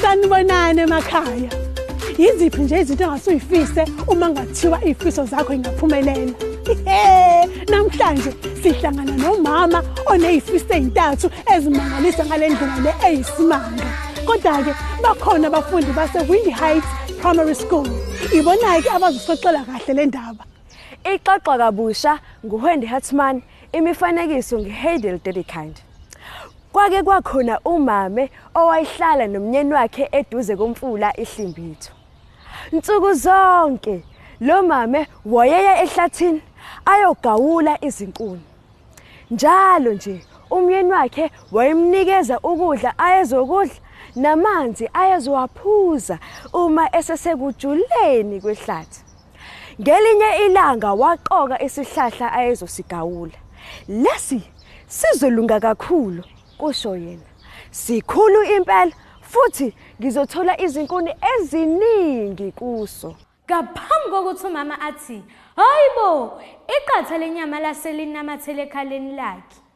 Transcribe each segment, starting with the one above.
sanibonani emakhaya yiziphi nje izinto engase uyifise uma ngathiwa iy'fiso zakho ingaphumelela Ihe, namhlanje sihlangana nomama oney'fiso ey'ntathu ezimangalisa ngale ndlela le eyisimanga kodwa-ke bakhona abafundi base-windy heights primary school ibona-ke abazosixoxela kahle le ndaba ixoxwa kabusha nguHendi Hartman Imifanekiso ngeHeidel Dedekind. Kwake kwakhona umame owayehlala nomnyeni wakhe eduze komfula iHlimbitho. Nsuku zonke lo mame wayeya ehlathini ayogawula izinkuni. Njalo nje umyeni wakhe wayemnikeza ukudla ayezokudla namanzi ayezowaphuza uma esesekujuleni kwehlathi. Ngelinye ilanga waqoka isihlahla ayezosigawula. Lesi sizolunga kakhulu, kusho yena. Sikhulu impela futhi ngizothola izinkuni eziningi kuso. Ngaphambi kokuthi umama athi, Hayibo, iqatha lenyama lase linamathele ekhaleni lakhe.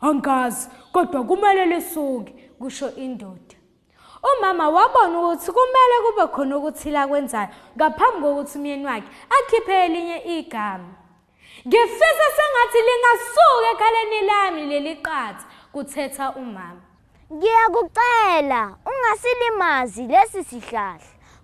Angazi kodwa kumele lisuke, kusho indoda. Umama wabona ukuthi kumele kube khona okuthile akwenzayo ngaphambi kokuthi umyeni wakhe akhiphe elinye igama. Ngifisa sengathi lingasuka ekhaleni lami leli qatha, kuthetha umama. Ngiyakucela ungasilimazi lesi sihlahla,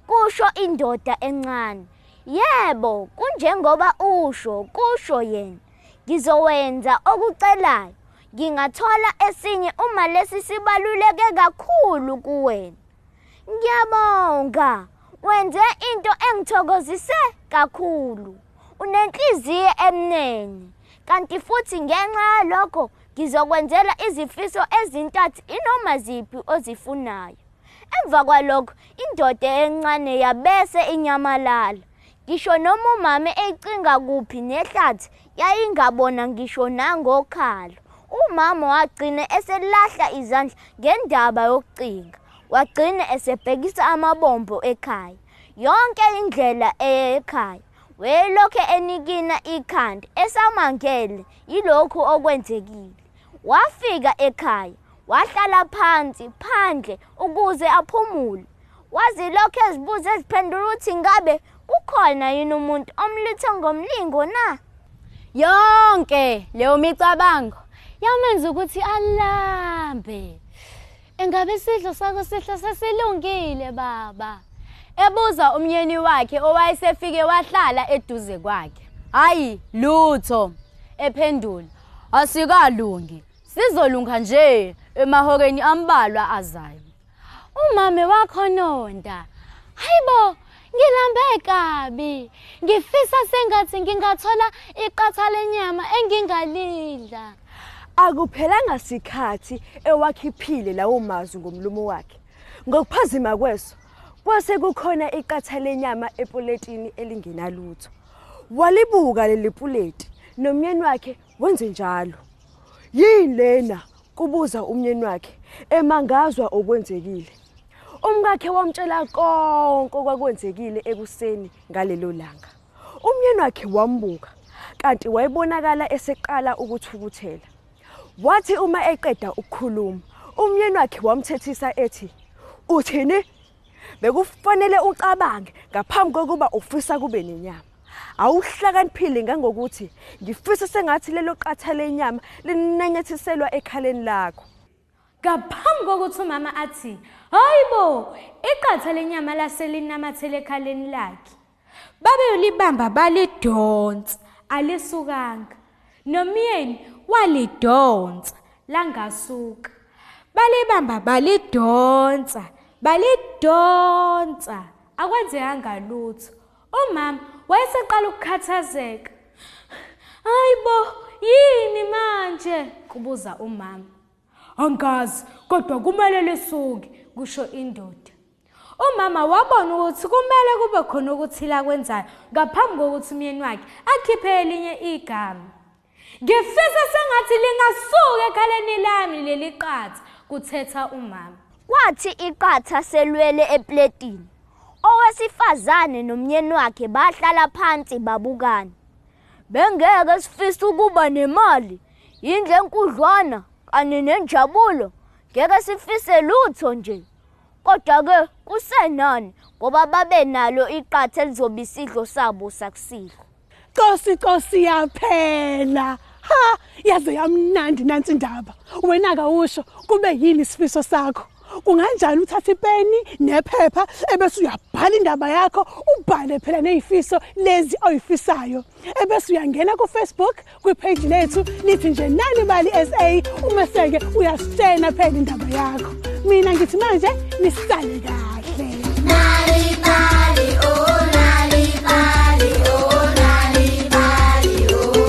kusho indoda encane. Yebo, kunjengoba usho, kusho yena. Ngizowenza okucelayo. Ngingathola esinye uma lesi sibaluleke kakhulu kuwena. Ngiyabonga. Wenze into engithokozise kakhulu. Unenhliziyo emnene. Kanti futhi ngenxa yalokho Ngizokwenzela izifiso ezintathu inoma ziphi ozifunayo. Emva kwalokho indoda encane yabese inyamalala. Ngisho noma umama eyicinga kuphi nehlathi yayingabona ngisho nangokhalo. Umama wagcina eselahla izandla ngendaba yokucinga. Wagcina esebhekisa amabombo ekhaya. Yonke indlela eya ekhaya. Wayelokhu enikina ikhanda esamangele yilokhu okwenzekile. Wafika ekhaya, wahlala phansi phandle ukuze aphumule. Wazilokhu ezibuza eziphendula ukuthi ngabe kukhona yini umuntu omluthe ngomlingo na? Yonke leyo micabango yamenza ukuthi alambe. Engabe isidlo sakho sihle sesilungile baba? Ebuza umyeni wakhe owayesefike wahlala eduze kwakhe. Hayi lutho ephendula. Asikalungi. Sizolunga nje emahokeni ambalwa azayo. Umame wakho nonda. Hayibo Ngilambe kabi. Ngifisa sengathi ngingathola iqatha lenyama engingalidla. Akuphelanga sikhathi ewakhiphile lawo mazwi ngomlomo wakhe. Ngokuphazima kweso kwase kukhona iqatha lenyama epuletini elingenalutho. Walibuka leli puleti nomyeni wakhe wenze njalo. Yini lena? Kubuza umnyeni wakhe emangazwa okwenzekile. Umkakhe wamtshela konke okwakwenzekile ekuseni ngalelo langa. Umnyeni wakhe wambuka kanti wayebonakala eseqala ukuthukuthela. Wathi uma eqeda ukukhuluma, umnyeni wakhe wamthethisa ethi, "Uthini? Bekufanele ucabange ngaphambi kokuba ufisa kube nenyama." awuhlakaniphile ngangokuthi ngifisa sengathi lelo qatha lenyama linanyathiselwa ekhaleni lakho ngaphambi kokuthi umama athi hayi bo iqatha lenyama lase linamathele ekhaleni lakhe babeyolibamba balidonsa alisukanga nomyeni walidonsa langasuka balibamba balidonsa balidonsa akwenzekanga lutho Umama wayeseqala ukukhathazeka. Hayibo, yini manje? kubuza umama. Angazi, kodwa kumele lisuke, kusho indoda. Umama wabona ukuthi kumele kube khona okuthile akwenzayo ngaphambi kokuthi umyeni wakhe akhiphe elinye igama. Ngifisa sengathi lingasuka ekhaleni lami leli qatha, kuthetha umama. Kwathi iqatha selwele epletini. Owesifazane nomnyeni wakhe bahlala phansi babukana. Bengeke sifise ukuba nemali, yindlu enkudlwana kanye nenjabulo. Ngeke sifise lutho nje. Kodwa-ke kusenani ngoba babenalo iqatha elizoba isidlo sabo sakusihlwa. Cosi cosi yaphela. Ha, yaze yamnandi nansi indaba. Wena ka usho kube yini isifiso sakho? Kunganjani uthathe ipeni nephepha ebese uyabhala indaba yakho ubhale phela nezifiso lezi oyifisayo. Ebese uyangena ku Facebook kwipheji lethu lithi nje nani bali sa umeseke uyasitshena phela indaba yakho mina ngithi manje nisale kahle nali bali oh nali bali oh nali bali oh